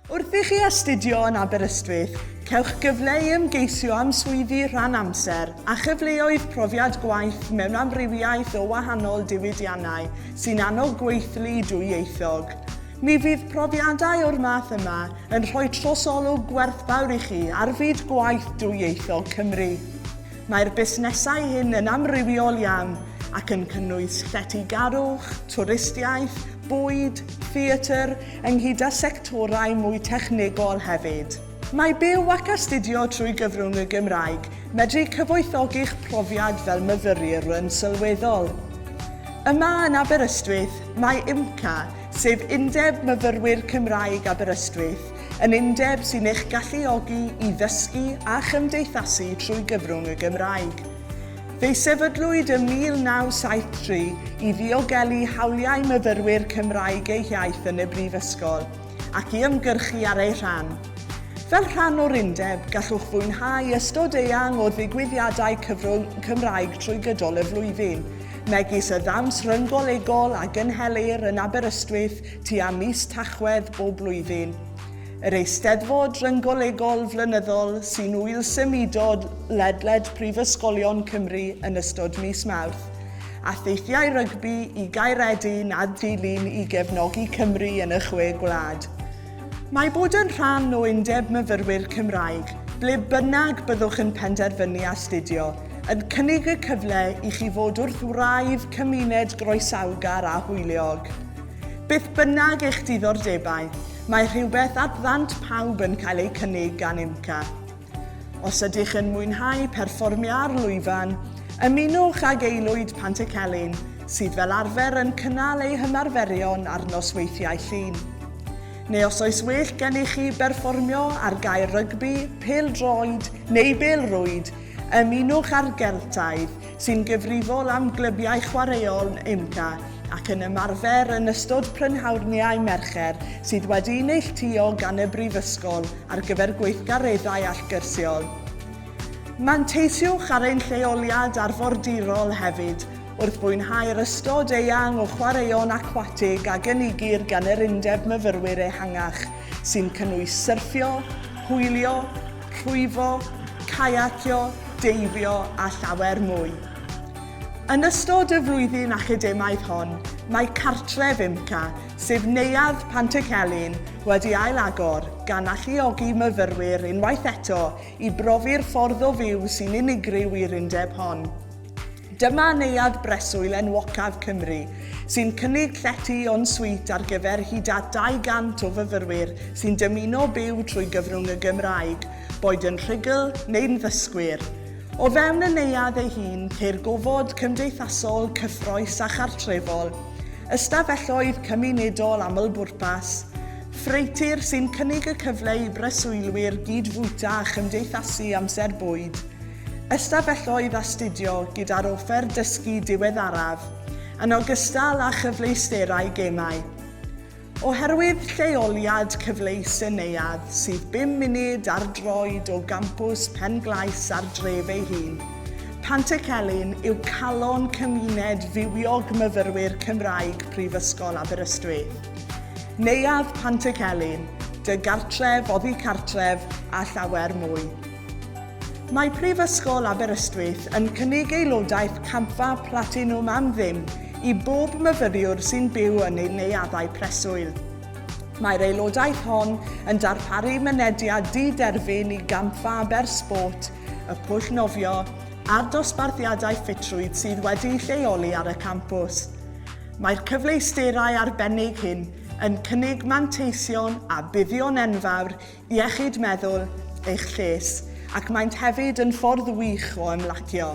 Wrth i chi astudio yn Aberystwyth, cewch gyfle i ymgeisio am swyddi rhan amser a chyfleoedd profiad gwaith mewn amrywiaeth o wahanol diwydiannau sy'n annog gweithlu dwyieithog. Mi fydd profiadau o'r math yma yn rhoi trosolwg gwerthfawr i chi ar fyd gwaith dwyieithog Cymru. Mae'r busnesau hyn yn amrywiol iawn ac yn cynnwys lletygarwch, twristiaeth, bwyd, theatr, ynghyd â sectorau mwy technegol hefyd. Mae byw ac astudio trwy gyfrwng y Gymraeg medru cyfoethogi'ch profiad fel myfyriwryn sylweddol. Yma yn Aberystwyth, mae UMCA, sef Undeb Myfyrwyr Cymraeg Aberystwyth, yn undeb sy'n eich galluogi i ddysgu a chymdeithasu trwy gyfrwng y Gymraeg. Fe sefydlwyd ym 1973 i ddiogelu hawliau myfyrwyr Cymraeg eu hiaith yn y Brifysgol ac i ymgyrchu ar eu rhan. Fel rhan o'r undeb, gallwch fwynhau ystod eang o ddigwyddiadau cyfrwng Cymraeg trwy gydol y flwyddyn, megis y ddawns ryng-golegol a gynhelir yn Aberystwyth tua mis Tachwedd bob blwyddyn. Yr Eisteddfod Rynggolegol flynyddol sy'n ŵyl symudol ledled prifysgolion Cymru yn ystod mis Mawrth, a theithiau rygbi i Gaeredin a Dulyn i gefnogi Cymru yn y Chwe Gwlad. Mae bod yn rhan o Undeb Myfyrwyr Cymraeg, ble bynnag byddwch yn penderfynu astudio, yn cynnig y cyfle i chi fod wrth wraidd cymuned groesawgar a hwyliog. Beth bynnag eich diddordebau, mae rhywbeth at ddant pawb yn cael eu cynnig gan IMCA. Os ydych yn mwynhau perfformio ar lwyfan, ymunwch ag aelwyd Pantycelyn, sydd fel arfer yn cynnal eu hymarferion ar nosweithiau Llun. Neu os oes well gennych chi berfformio ar gae rygbi, pêl-droed neu bêl-rwyd, ymunwch â'r Geltaidd, sy'n gyfrifol am glybiau chwaraeon UMCA ac yn ymarfer yn ystod prynhawrniau Mercher sydd wedi'i neilltuo gan y Brifysgol ar gyfer gweithgareddau allgyrsiol. Manteisiwch ar ein lleoliad arfordirol hefyd wrth fwynhau'r ystod eang o chwaraeon acwatig a gynigir gan yr Undeb Myfyrwyr ehangach, sy'n cynnwys syrffio, hwylio, rhwyfo, caiacio, deifio a llawer mwy. Yn ystod y flwyddyn academaidd hon, mae cartref IMCA, sef Neuadd Pantycelyn, wedi ail-agor, gan alluogi myfyrwyr unwaith eto i brofi'r ffordd o fyw sy'n unigryw i'r undeb hon. Dyma Neuadd Breswyl enwocaf Cymru, sy'n cynnig llety en suite ar gyfer hyd at 200 o fyfyrwyr sy'n dymuno byw trwy gyfrwng y Gymraeg, boed yn rhugl neu'n ddysgwyr. O fewn y neuadd ei hun, ceir gofod cymdeithasol, cyffrous a chartrefol, ystafelloedd cymunedol amlbwrpas, ffreutur sy'n cynnig y cyfle i breswylwyr gyd-fwyta a chymdeithasu amser bwyd, ystafelloedd astudio gyda'r offer dysgu diweddaraf, yn ogystal â chyfleusterau gemau. Oherwydd lleoliad cyfleus y neuadd sydd bum munud ar droed o gampws Pen-glais a'r dref ei hun, Pantycelyn yw calon cymuned fywiog myfyrwyr Cymraeg Prifysgol Aberystwyth. Neuadd Pantycelyn, dy gartref oddi cartref a llawer mwy. Mae Prifysgol Aberystwyth yn cynnig aelodaeth Campfa Platinwm am ddim i bob myfyriwr sy'n byw yn ein neuaddau preswyl. Mae'r aelodaeth hon yn darparu mynediad di-derfyn i Gampfa Aber Sport, y pwll nofio, a'r dosbarthiadau ffitrwydd sydd wedi'u lleoli ar y campws. Mae'r cyfleusterau arbennig hyn yn cynnig manteision a buddion enfawr iechyd meddwl eich lles ac maent hefyd yn ffordd wych o ymlacio.